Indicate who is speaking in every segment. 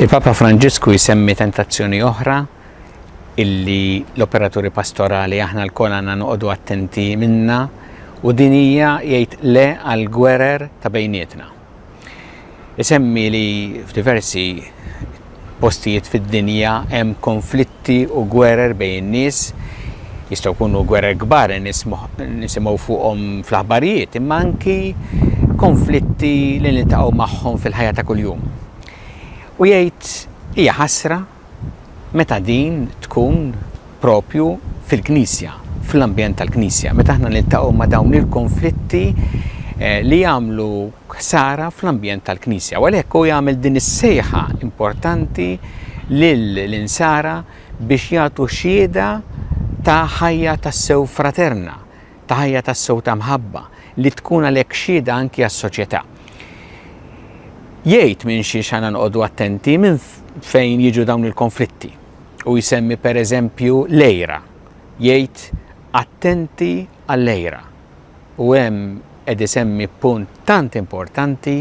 Speaker 1: Il-Papa Franġisku jsemmi tentazzjoni oħra illi l-operaturi pastorali aħna l-kol għanna noqogħdu attenti minna u dinija jgħid le għal gwerer ta' bejnietna. Isemmi li f'diversi postijiet fid-dinja hemm konflitti u gwerer bejn in-nies, jistgħu jkunu gwerer kbar li nisimgħu fuqhom fl-aħbarijiet, imma anki konflitti li niltaqgħu magħhom fil-ħajja ta' kuljum. U jgħid, Hija ħasra meta din tkun proprju fil-Knisja, fl-ambjent tal-Knisja, meta aħna niltaqgħu ma' dawn il-konflitti li jagħmlu ħsara fl-ambjent tal-Knisja. U għalhekk hu jagħmel din is-sejħa importanti lill-insara biex jagħtu xhieda ta' ħajja tassew fraterna, ta' ħajja tassew ta' mħabba li tkun għalhekk xhieda anki għas-soċjetà. Jgħid minn xiex għandna noqogħdu attenti minn fejn jiġu dawn il-konflitti u jsemmi pereżempju l-għira. Jgħid attenti għall-għira. U hemm qed isemmi punt tant importanti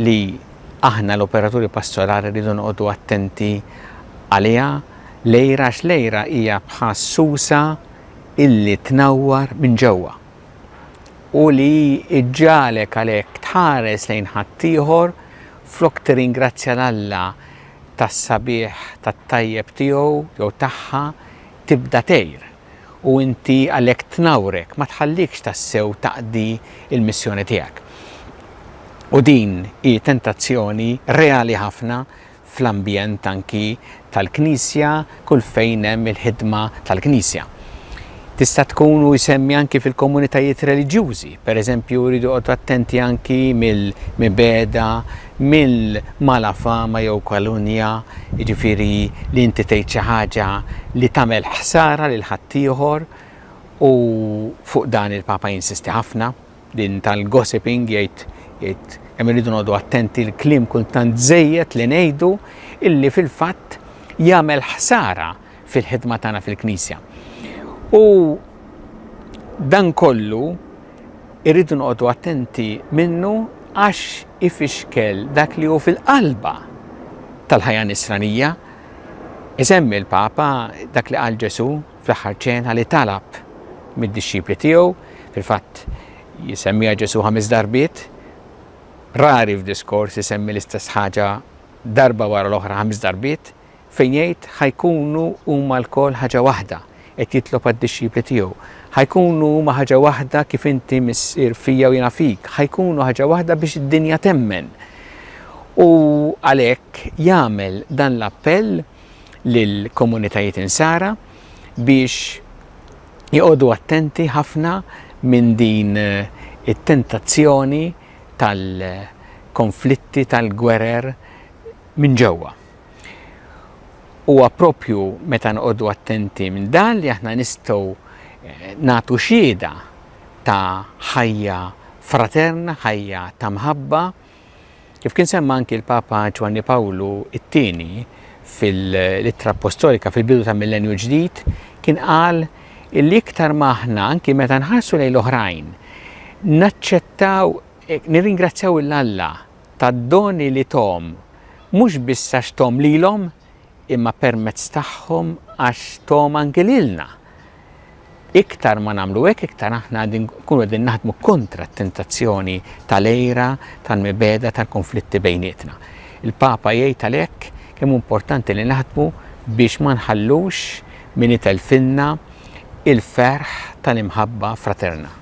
Speaker 1: li aħna l-operaturi pastorali rridu noqogħdu attenti għaliha lejra għax lejra hija bħas susa illi tnawwar minn ġewwa u li ġġagħlek għalhekk tħares lejn ħaddieħor flok tirringrazzja 'l Alla tas-sabiħ tat-tajjeb tiegħu jew tagħha tibda tgħir u inti għalhekk tnawrek ma tħallikx tassew taqdi l-missjoni tiegħek. U din hi tentazzjoni reali ħafna fl-ambjent anki tal-Knisja kull fejn hemm il-ħidma tal-Knisja. Tista' tkun u jsemmi anki fil-komunitajiet reliġjużi, pereżempju jridu joqgħodu attenti anki mill-mibegħda, mill-malafama jew kalunja, jiġifieri li inti tgħid xi ħaġa li tagħmel ħsara lil ħaddieħor u fuq dan il-Papa jinsisti ħafna. Din tal-gossiping jgħid jgħid hemm irridu noqogħdu attenti l-kliem kultant żejjed li ngħidu illi fil-fatt jagħmel ħsara fil-ħidma tagħna fil-Knisja. U dan kollu irridu noqogħdu attenti minnu għax ifixkel dak li hu fil-qalba tal-ħajja nisranija. Isemmi l-Papa dak li qal Ġesu Fl-aħħar ċena li talab mid-dixxipli tiegħu, fil-fatt jsemmiha Ġesù ħames darbiet, rari f'diskors isemmi l-istess ħaġa darba wara l-oħra ħames darbiet, fejn jgħid ħa jkunu huma lkoll ħaġa waħda, qed jitlob għad-dixxipli tiegħu. Ħa jkunu huma ħaġa waħda kif inti Missier fija u jiena fik, ħa jkunu ħaġa waħda biex id-dinja temmen. U għalhekk jagħmel dan l-appell lill-komunitajiet Insara biex joqogħdu attenti ħafna minn din it-tentazzjoni tal-konflitti tal-gwerer minn ġewwa. Huwa proprju meta noqogħdu attenti minn dan li aħna nistgħu eh, nagħtu xieda ta' ħajja fraterna, ħajja ta' mħabba, Kif kien semma anki l-Papa Ġwanni Pawlu t-Tieni fil-Ittra Appostolika fil-bidu ta' Millenju Ġdid, kien qal li iktar ma aħna anki meta nħarsu lejn l-oħrajn, naċċettaw nirringrazzjaw il-Alla tad-doni li tom mhux biss għax tom lilhom imma permezz tagħhom għax Tom anki lilna. Iktar ma nagħmlu hekk, iktar aħna nkunu qegħdin naħdmu kontra t-tentazzjoni tal-ejra, tal-mibeda, tal-konflitti bejnietna. Il-Papa jgħid għalhekk kemm importanti li naħdmu biex ma nħallux min itelfinna il-ferħ tal-imħabba fraterna.